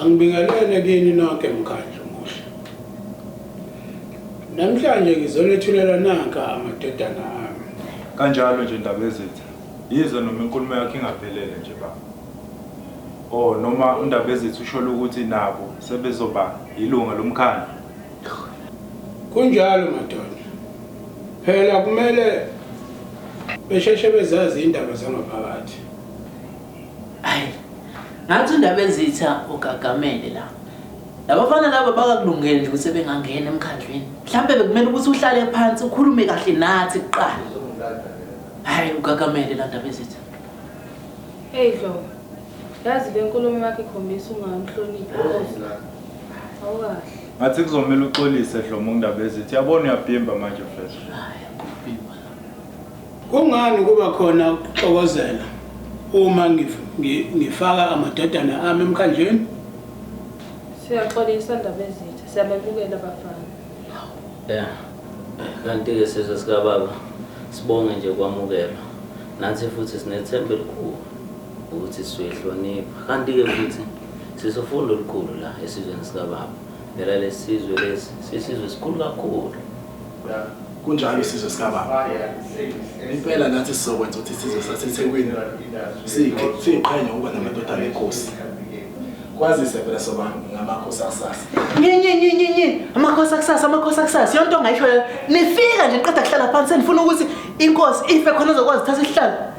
Angibingelele kini nonke mkhandlu muhle. Namhlanje ngizonethulela nanka amadodana ami. Kanjalo nje Ndabezitha. Yize noma inkulumo yakhe ingaphelele nje baba. Oh noma uNdabezitha usholo ukuthi nabo sebezoba yilunga lomkhandlu. Kunjalo madoda. Phela kumele besheshe bezazi indaba zangaphakathi. Ayi ngathi undaba ezitha ugagamele la. Labafana laba bakakulungele nje ukuthi bengangena emkhandlwini. Mhlambe bekumele ukuthi uhlale phansi ukhulume kahle nathi kuqala. Hayi ugagamele la ndaba ezitha. Hey Dlomo, yazi le nkulumo yakho ikhombisa ungamhloniphi uNkosi. Awukahle. Ngathi kuzomele uxolise Dlomo kuNdabezithi. Yabona uyabhimba manje mfethu. Kungani kuba khona ukuxokozela uma ngif- ngi- ngifaka amadodana ami emkhandlwini? Siyaxolisa ndaba ezitha, siyamemukela bafana. Ya. Kanti-ke sizwe sikababa sibonge nje ukwamukelwa. Nathi futhi sinethemba elikhulu ukuthi sizoyihlonipha. Kanti-ke futhi Sisi ufunda olukhulu la esizweni sikababa. Phela lesizwe lesi sisizwe esikhulu kakhulu. Yeah. Kunjalo isizwe sikababa. Impela nathi sizokwenza ukuthi isizwe saseThekwini sikhe siqhenye ukuba namadodana enkosi. Kwazise phela soba ngamakhosi akusasa. Nyenyenyenyenye amakhosi akusasa amakhosi akusasa yonto ongayisho nifika nje niqeda kuhlala phansi senifuna ukuthi inkosi ife khona uzokwazi uthatha isihlalo.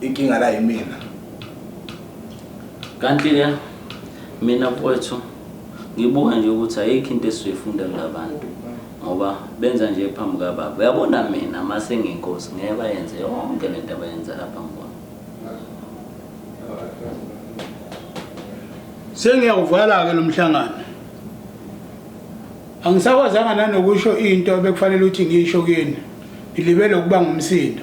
inkinga la yimina kanti-ke mina mfowethu ngibuka nje ukuthi ayikho into esizoyifunda kulabantu ngoba benza nje phambi kababa uyabona mina uma sengiyinkosi ngeke bayenze yonke le nto abayenza lapha ngibona sengiyawuvala-ke lo mhlangano angisakwazanga nanokusho into ebekufanele ukuthi ngiyisho kini ngilibele ukuba ngumsindo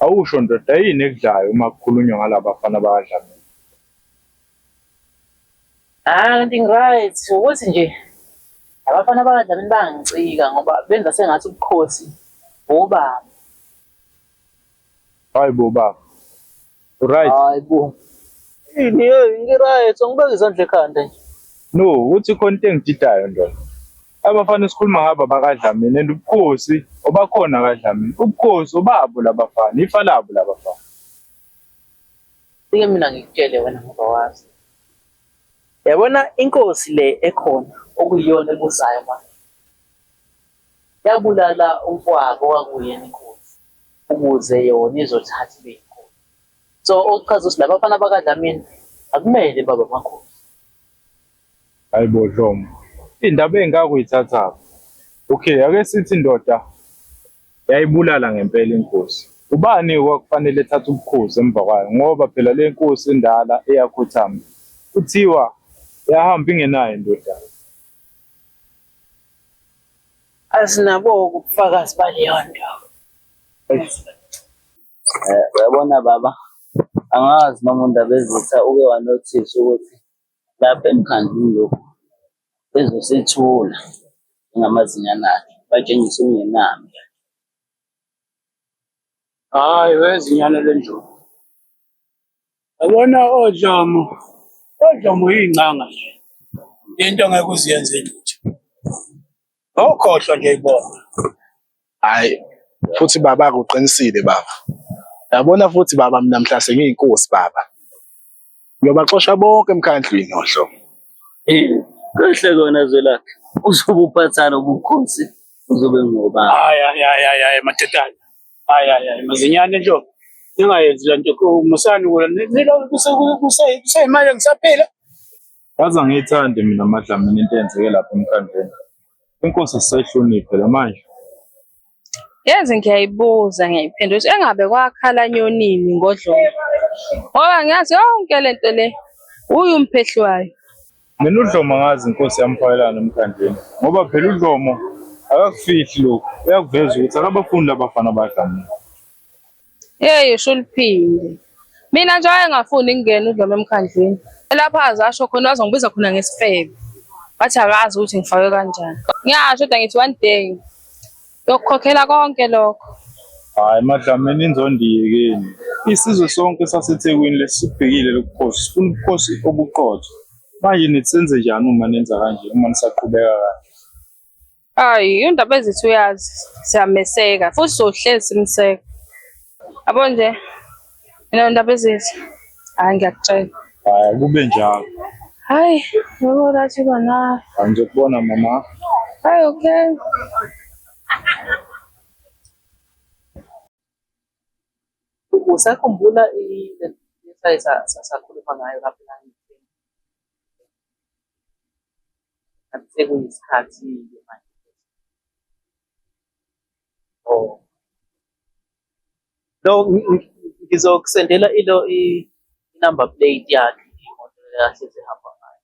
Awusho ndoda yini ekudlayo uma kukhulunywa ngalabafana bakadlamini? Ah, kanti ngiryt ukuthi nje abafana bakadlamini bangicika ngoba benza sengathi ubukhosi bobaba. Hayi bo baba. Right. Hayi bo. Yini yo ngiright ngibeka izandla ekhanda nje. No, uthi khona into engididayo ndoda. Abafana esikhuluma ngabo abakadlamini and ubukhosi obakhona akadlamini. Ubukhosi obabo labafana, ifa labo labafana. Ike mina ngikutshele wena ngoba wazi. Yabona inkosi le ekhona okuyiyona ebusayo manje. Yabulala umfowabo wakuyena inkunzi ukuze yona izothatha ibe inkunzi. So okuchaza ukuthi laba bafana bakaDlamini akumele babe amakhosi. Hayi bo Dlomo. Indaba engaka uyithathaphi? Okay, ake sithi indoda yayibulala ngempela inkosi. Ubani kwakufanele ethathe ubukhosi emva kwayo ngoba phela le nkosi endala eyakhothama kuthiwa yahamba ingenayo indodana. asinabo ubufakazi baleyo nto Eh, uyabona baba angazi noma undabezitha uke wanothisa ukuthi lapha emkhandlwini lokhu bezosethula ngamazinyana akhe batshengise ungenami Hayi wezinyane lenjulu. Yabona oDlomo, oDlomo uyingcanga nje. Into ngeke uziyenze lutho. Ngokhohlwa nje ibona. Hayi futhi baba akuqinisile baba. Yabona futhi baba mina mhla sengiyinkosi baba. Ngiyobaxosha bonke emkhandlwini oDlomo. Kahle kona Zwelakhe. Uzobe uphathana ubukhosi uzobe ngoba. Hayi hayi hayi hayi madodana. Hayi hayi hayi mazinyane nje. Ningayenzi le nto musani kula. Nilo kuseyimali ngisaphila. Yazi angiyithandi mina amadlamini into eyenzeke lapha emkhandleni. Inkosi sisayihloniphe la manje. Yazi ngiyayibuza ngiyayiphendula ukuthi engabe kwakhala nyonini ngodlongo. Ngoba ngiyazi yonke lento le uyi umphehli wayo. Mina udlomo angazi inkosi yamfayelana emkhandleni ngoba phela udlomo akakufihli lokhu uyakuveza ukuthi akabafundi labafana badlamile yeyi usho uliphinde mina nje wayengafuni ngingena udlomo emkhandleni elapha aze asho khona wazongibiza khona ngesifebe wathi akazi ukuthi ngifakwe kanjani ngiyasho kodwa ngithi one day yokukhokhela konke lokho hayi madlamini inzondiye kini isizwe sonke sasethekwini lesibhekile lokukhosi sifuna ubukhosi obuqotho manje nithi senze njani uma nenza kanje uma nisaqhubeka kanje hayi indaba ezithi uyazi siyameseka futhi sohlezi simseka yabo nje Mina ndaba ezithi hayi ngiyakutshela. Hayi kube njalo. Hayi, yebo lathi bana. Angizokubona mama. Hayi okay. Usakhumbula i-exercise sasakhuluma ngayo lapho la sekuyisikhathi-ke manje. Oh. No, ngizokusendela ilo i-number plate yakhe imoto yakhe ezihamba ngayo.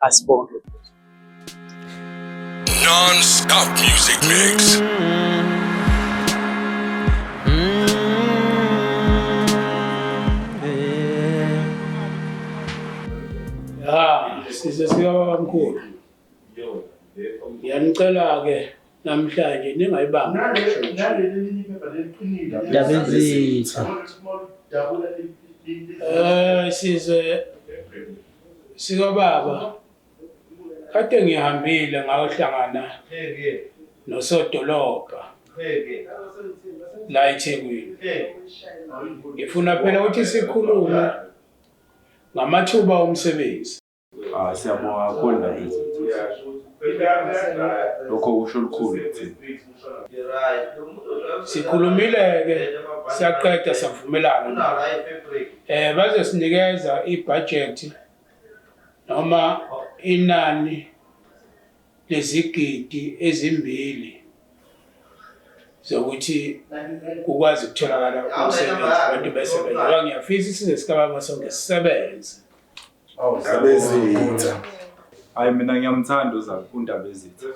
Asibonge. Non-stop music mix. Mm -hmm. size sikababamkhulu Ngiyanicela-ke namhlanje ningayibambi. Ndabenzitha. Eh size sikababa kade ngihambile ngayohlangana nosodolobha la eThekwini. Ngifuna phela ukuthi sikhulume ngamathuba omsebenzi. Ah, siyabonga kakhulu ndaba lokho kusho lukhulu kuthina sikhulumile-ke siyaqeda savumelana um bazosinikeza ibhajethi noma inani lezigidi ezimbili zokuthi kukwazi ukutholakala umsebenzi abantu besebenza ngoba ngiyafisa isizwe sikababa sonke sisebenze Ndabezitha. Hayi mina ngiyamthanda uZaku uNdabezitha.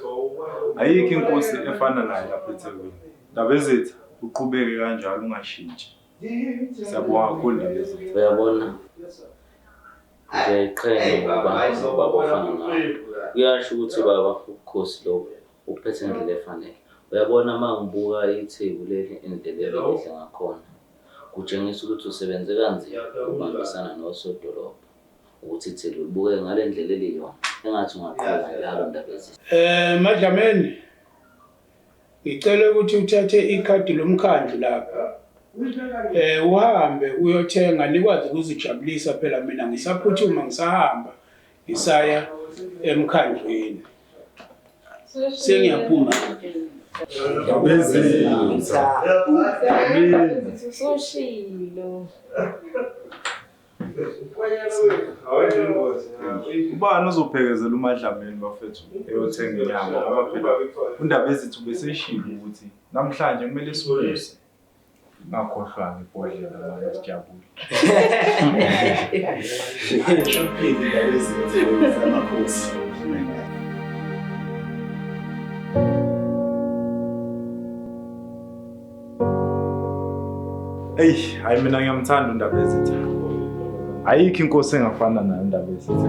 Ayikho inkosi efana naye lapha eThekwini. Ndabezitha uqhubeke kanjalo ungashintshi. Siyabonga kakhulu Ndabezitha. Uyabona? Ngiyayiqhenya ngokuba nobaba ofana nawe. Kuyasho ukuthi baba ubukhosi lobu. Ukuphethe ngendlela efanele. Uyabona uma ngibuka itheku leli indlela ebelihle ngakhona, kutshengisa ukuthi usebenze kanzima ukubambisana nosodolobha ukuthi itheku libukeke ngale ndlela eliyona, engathi ungaqhubeka njalo Ndabezitha. Eh Madlameni, ngicela ukuthi uthathe ikhadi lomkhandlu lapha eh uhambe uyothenga nikwazi ukuzijabulisa phela mina ngisaphuthuma ngisahamba Ngisaya emkhandlwini. Sengiyaphuma. Bezinza. Usoshilo. Ubani uzophekezela umadlameni bafethu eyothenga inyama ngoba phela undaba ezithu beseshilo ukuthi namhlanje kumele siwuse. Ngakhohlwa ngibhodlela manje sijabule. Shophini lezi zamakhosi. Eyi, hayi mina ngiyamthanda uNdaba ezitha. Ayikho inkosi engafana nayo uNdaba ezitha.